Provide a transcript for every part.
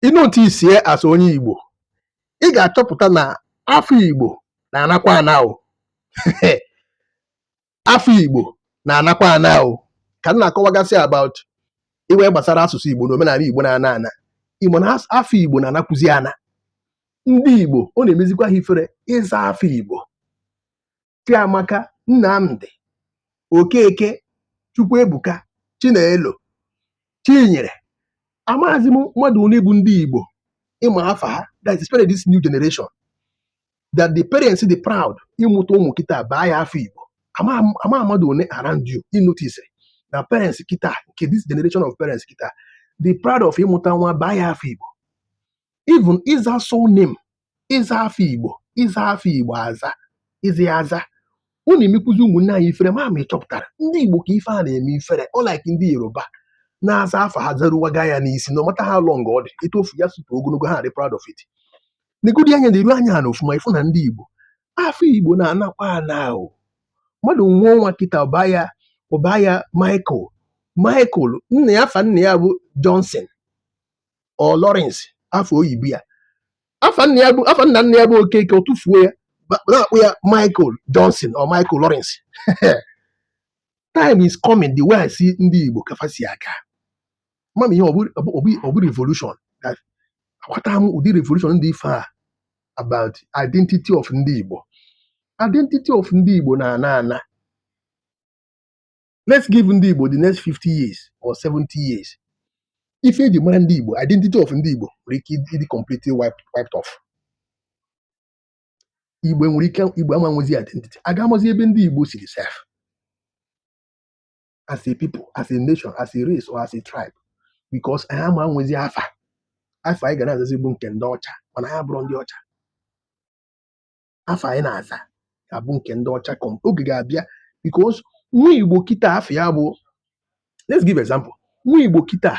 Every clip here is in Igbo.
ị noticie as a onye Igbo ị ga-achọpụta na afọ Igbo na-anakwa ana o afa Igbo na-anakwa ana o ka m na-akọwagasị about ife gbasara asụsụ Igbo na omenanị Igbo na-ana ana ị ma na afa Igbo na-anakwụzi ana ndị Igbo ọ na-emezikwa ha ifere ịza afa Igbo Chiamaka Nnamdi Okeke Chukwuebuka Chinelo Chinyere amaghịzi m mmadụ ole bụ ndị Igbo ị ma afa ha that is this new generation that the parents dị proud ịmụta ụmụ kịta baa ha afa Igbo ama m mmadụ one around you ị notice na parents kịta nke this generation of parents kịta dị proud of ịmụta nwa baa ya afa Igbo even ịza surname ịza afa igbo ịza afa igbo aza ịza ya aza ọ na-emekwuzi ụmụnne anyị ifere ma ma ị chọpụtara ndị igbo ka ife a na-eme ifere unlike ndị yoruba na-aza afa ha zaruwaga ya n'isi no matter how long ọ dị etu ofu ya si too ogologo ha dị proud of it negodi anya neruo anya ana ọfụma ị fụ na ndị igbo afa igbo na-anakwa ana o mmadụ nwee nwa kịta ọ baa ya ọ baa ya michael michael nna ya afa nna ya bụ johnson or Lawrence afa oyibo ya afa nna ya bụ afa nna nna ya bụ Okeke ọ tụfuo ya ba- na-akpọ ya Michael Johnson or Michael Lawrence time is coming the way I see ndị Igbo ka fa si aga ama m ihe ọ bụ ọ bụ- ọ bụ- ọ bụ revolution That- aghọta m ụdị revolution ndị ife a about identity of ndị Igbo identity of ndị Igbo na-ana ana let's give ndị Igbo the next 50 years or 70 years ife eji mara ndị Igbo identity of ndị Igbo nwere ike ịdị completely wiped off Igbo nwere ike Igbo ama nwezi identity a ga-amazi ebe ndị Igbo siri sef as a people as a nation as a race or as a tribe because anyị ama nwezi afa afa anyị ga na-azazi bụ nke ndị ọcha mana anyị abụrọ ndị ọcha afa anyị na-aza ga-abụ nke ndị ọcha come oge ga-abịa because nwa igbo kịta afa ya bụ let's give example nwa igbo kịta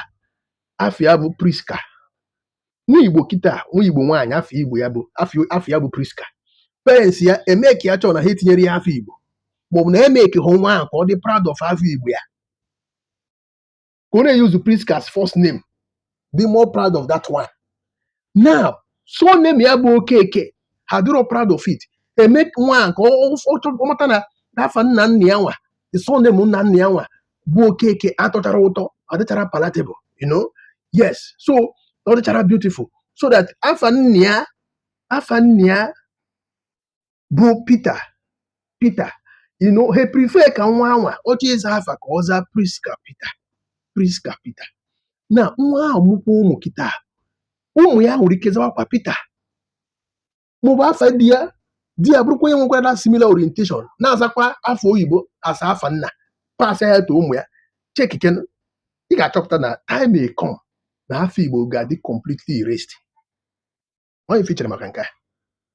afa ya bụ prisca nwa igbo kịta nwa igbo nwaanyị afa igbo ya bụ afa afa ya bụ prisca parents ya eme ka ya chọọ na ha etinyere ya afa igbo maọbụ na eme ka hụ nwa ahụ ka ọ dị proud of afa igbo ya ka ọ na-euse Prisca as first name be more proud of that one now surname ya bụ Okeke ha dịrọ proud of it emee nwa a ka ọ ọ- ọ- ọ mata na n'afa nna nna ya nwa the surname nna nna ya nwa bụ Okeke atọchara ụtọ adịchara palatable you know yes so ọ dịchara beautiful so that afa nna ya afa nna ya bụ Pita Pita you know he prefer ka nwa a nwa ọ chọọ ịza afa ka ọ zaa Priska Pita Priska Pita na nwa ahụ mụkwa ụmụ kịta ụmụ ya nwere ike zawakwa Pita maọbụ afa di ya di ya bụrụkwa onye nwekwara na similar orientation na-azakwa afa oyibo as afa nna pass ya to ụmụ ya checkikene ị ga-achọpụta na time may come na afa Igbo ga-adị completely erased onye fichere maka nke a